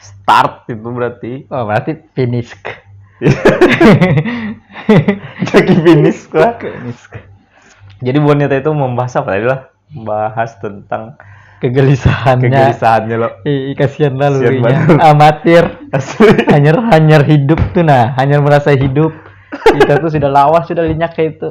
start itu berarti oh berarti finish jadi finish lah jadi bonita itu membahas apa tadi lah membahas tentang kegelisahannya kegelisahannya lo Ih, kasihan lah lu amatir hanyar hanyar hidup tuh nah hanyar merasa hidup kita tuh sudah lawas sudah linyak kayak itu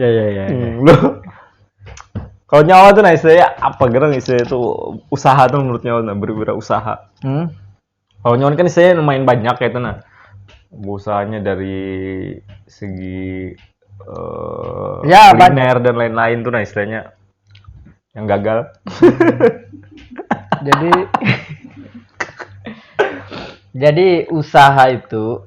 ya ya ya, ya. kalau nyawa tuh nah istilahnya apa gerang istilahnya itu usaha tuh menurut nyawa nah usaha hmm? kalau nyawa kan istilahnya lumayan banyak kayak itu nah usahanya dari segi uh, ya, kuliner dan lain-lain tuh nah istilahnya yang gagal. jadi jadi usaha itu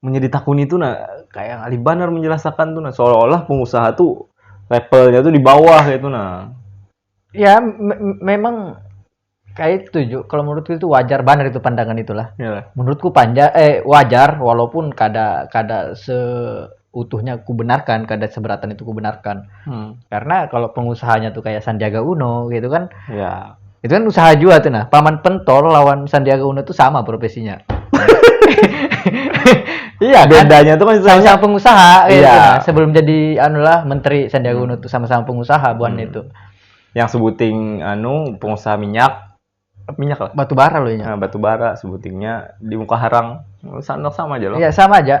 munnya ditakuni tu nah kayak ngalih banar menjelasakan tu nah seolah-olah pengusaha tu levelnya tu di bawah kayak tu nah ya me memang kayak setuju kalau menurutku itu wajar banget itu pandangan itulah ya. menurutku panjang eh wajar walaupun kada kada se utuhnya kubenarkan kada seberatan itu kubenarkan hmm. karena kalau pengusahanya tuh kayak Sandiaga Uno gitu kan ya Itu kan usaha jua tuh nah. Paman Pentor lawan Sandiaga Uno itu sama profesinya. iya kan? bedanya tuh kan sama-sama pengusaha iya. gitu. Nah, sebelum jadi anu lah menteri Sandiaga Uno tuh sama-sama pengusaha buan hmm. itu. Yang sebuting anu pengusaha minyak minyak lah. Batu bara loh ya. Nah, batu bara sebutingnya di muka harang. Sama sama aja loh. Iya, sama aja.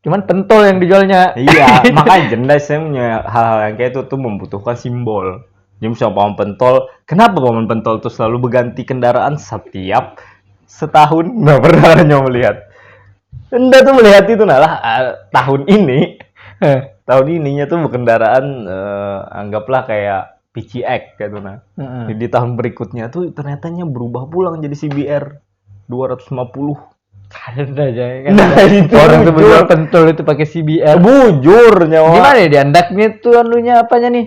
Cuman pentol yang dijualnya. Iya, makanya jendai saya punya hal-hal yang kayak itu tuh membutuhkan simbol. Jadi misalnya paman pentol, kenapa paman pentol tuh selalu berganti kendaraan setiap setahun? Nggak pernah ada yang melihat. Anda tuh melihat itu nalah ah, tahun ini, Eh, tahun ininya tuh berkendaraan eh, anggaplah kayak PCX gitu nah. heeh. Jadi di tahun berikutnya tuh ternyatanya berubah pulang jadi CBR. dua ratus lima puluh Ada aja kan. Nah, itu Orang tuh bujur. berjual pentol itu pakai CBR. Bujur nyawa. Gimana ya diandaknya tuh anunya apanya nih?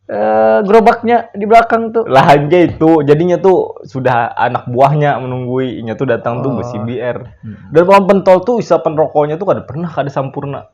Eh, gerobaknya di belakang tuh. Lah aja itu, jadinya tuh sudah anak buahnya menunggui, inya tuh datang tuh Oh. besi BR. Hmm. Dan orang pentol tuh isapan rokoknya tuh kada pernah kada sampurna.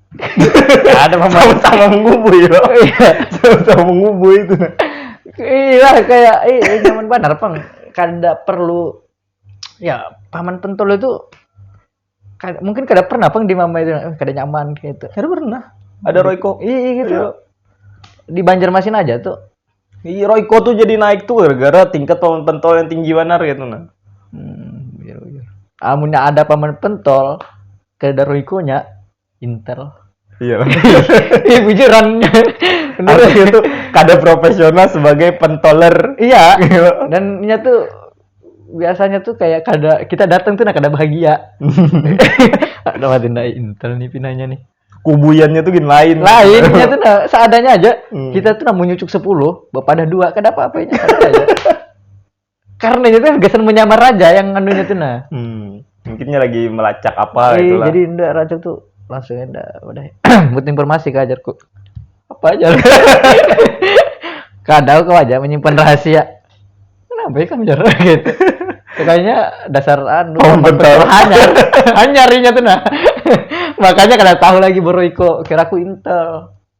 ada pemain sama mengubui ya sama mengubui itu iya kayak iya nyaman banget pang kada perlu ya paman pentol itu kada, mungkin kada pernah pang di mama itu eh, kada nyaman gitu kada pernah ada Royco iya, iya gitu iya. di Banjarmasin aja tuh iya Royco tuh jadi naik tuh gara-gara tingkat paman pentol yang tinggi banar gitu nah hmm, iya, iya. amunnya ada paman pentol Kayak Daruiko nya Intel. Iya. Iya bujuran. Bener. Artinya tuh kada profesional sebagai pentoler. Iya. Dan nya tuh biasanya tuh kayak kada kita datang tuh nah kada bahagia. Ada mati ndak intel nih pinanya nih. Kubuyannya tuh gini lain. Lain nya tuh nah seadanya aja. Hmm. Kita tuh nah menyucuk 10, bapadah dua kada apa-apa nya. Ada aja. karena itu gasan menyamar raja yang anu itu nah hmm. mungkinnya lagi melacak apa e, itulah jadi ndak raja tuh langsung ndak udah buat informasi ke ajarku apa aja kadang kau aja menyimpan rahasia kenapa ya kamu jarang gitu kayaknya dasar anu oh, betul hanyar hanyarinya tuh nah makanya kada tahu lagi bro Iko kira aku intel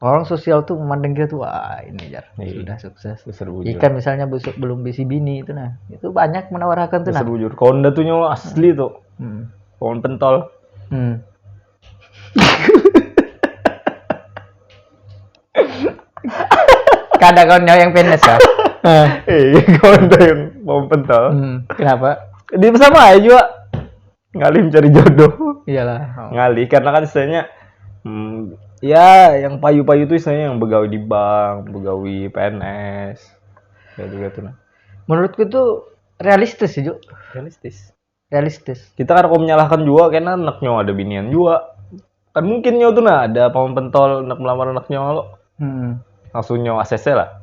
orang sosial tuh memandang kita tuh wah ini jar iya. sudah sukses Seru ikan misalnya besok belum bisi bini itu nah itu banyak menawarkan tuh nah Seru jujur konda tuh nyawa asli tuh hmm. pohon pentol hmm. kada kau nyawa yang penis ya eh. iya konda yang pohon pentol hmm. kenapa di sama aja juga ngalih mencari jodoh iyalah ngalih karena kan istilahnya hmm, ya yang payu-payu itu istilahnya yang begawi di bank begawi PNS kayak juga tuh nah menurutku itu realistis sih Juk. realistis realistis kita kan kok menyalahkan juga karena anaknya ada binian juga kan mungkin nyawa tuh nah ada paman pentol anak melamar anaknya lo hmm. langsung nyawa ACC lah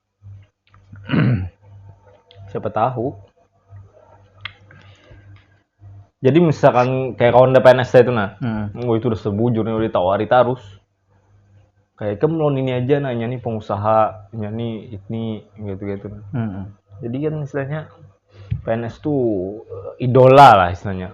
siapa tahu jadi misalkan kayak kawan DPNS saya itu nah hmm. gue itu udah sebujur nih udah ditawari terus kayak kamu lawan ini aja nanya nih pengusaha nyanyi ini gitu gitu hmm. jadi kan istilahnya PNS tuh eh, idola lah istilahnya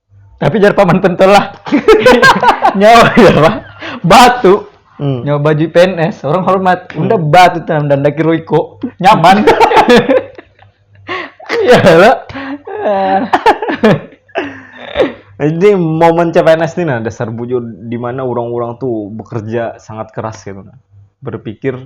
tapi jar paman pentol lah nyawa ya pak batu hmm. nyawa baju PNS orang hormat hmm. udah batu tanam dan daki roiko nyaman ya lah jadi momen CPNS ini nah dasar bujur di mana orang-orang tuh bekerja sangat keras gitu nah berpikir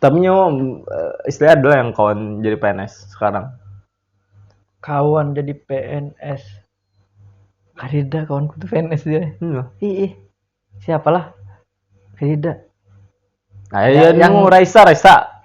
tapi nyo eh, istilahnya adalah yang kawan jadi PNS sekarang kawan jadi PNS kadida kawanku tuh PNS dia hmm. ih siapalah kadida nah, ya, yang, yang Raisa Raisa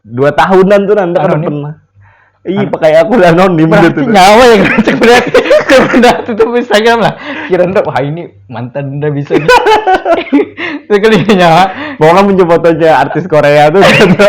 dua tahunan tuh nanti kan pernah Iya pakai aku lah non di mana tuh? Nyawa yang ngecek berat. Berat itu Instagram lah. Kira ndak wah ini mantan udah bisa. Sekali nyawa. Pokoknya muncul fotonya artis Korea tuh. Gitu.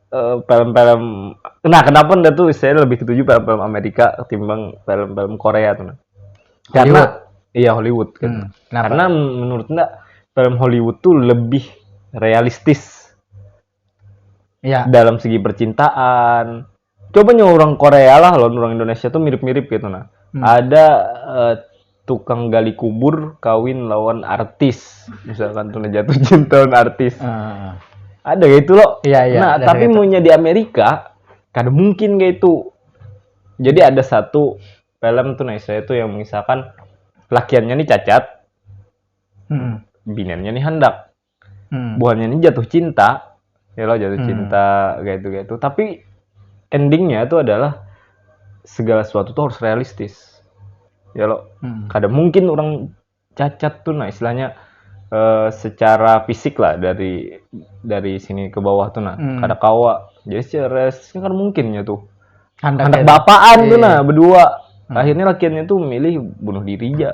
eh, film-film nah kenapa ndak tuh saya lebih ketuju film-film Amerika ketimbang film-film Korea tuh nah. karena Hollywood. iya Hollywood kan Hmm, kenapa? karena m- menurut ndak film Hollywood tuh lebih realistis ya dalam segi percintaan coba nyawa orang Korea lah lawan orang Indonesia tuh mirip-mirip gitu nah Hmm. ada eh, tukang gali kubur kawin lawan artis misalkan tuh jatuh cinta lawan artis uh. ada kayak itu loh iya, iya, nah tapi gitu. di Amerika kada mungkin kayak itu jadi ada satu film tuh nah saya tuh yang misalkan lakiannya nih cacat hmm. binannya nih hendak hmm. buhannya ini jatuh cinta ya lo jatuh hmm. cinta kayak itu kayak itu tapi endingnya itu adalah segala sesuatu tuh harus realistis ya lo hmm. kadang mungkin orang cacat tuh nah istilahnya uh, secara fisik lah dari dari sini ke bawah tuh nah hmm. kada kawa jadi secara realistis kan mungkin ya tuh anak, anak bapaan tuh iya. nah berdua hmm. akhirnya lakiannya tuh milih bunuh diri ya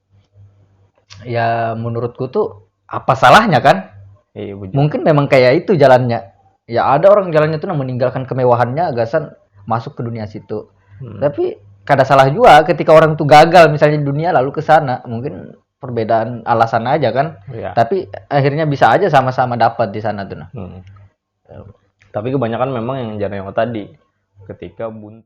ya menurutku tuh apa salahnya kan iya, mungkin memang kayak itu jalannya ya ada orang jalannya tuh meninggalkan kemewahannya gasan masuk ke dunia situ hmm. tapi kada salah juga ketika orang tuh gagal misalnya di dunia lalu ke sana mungkin perbedaan alasan aja kan ya. tapi akhirnya bisa aja sama-sama dapat di sana tuh nah. hmm. tapi kebanyakan memang yang jarang yang tadi ketika buntu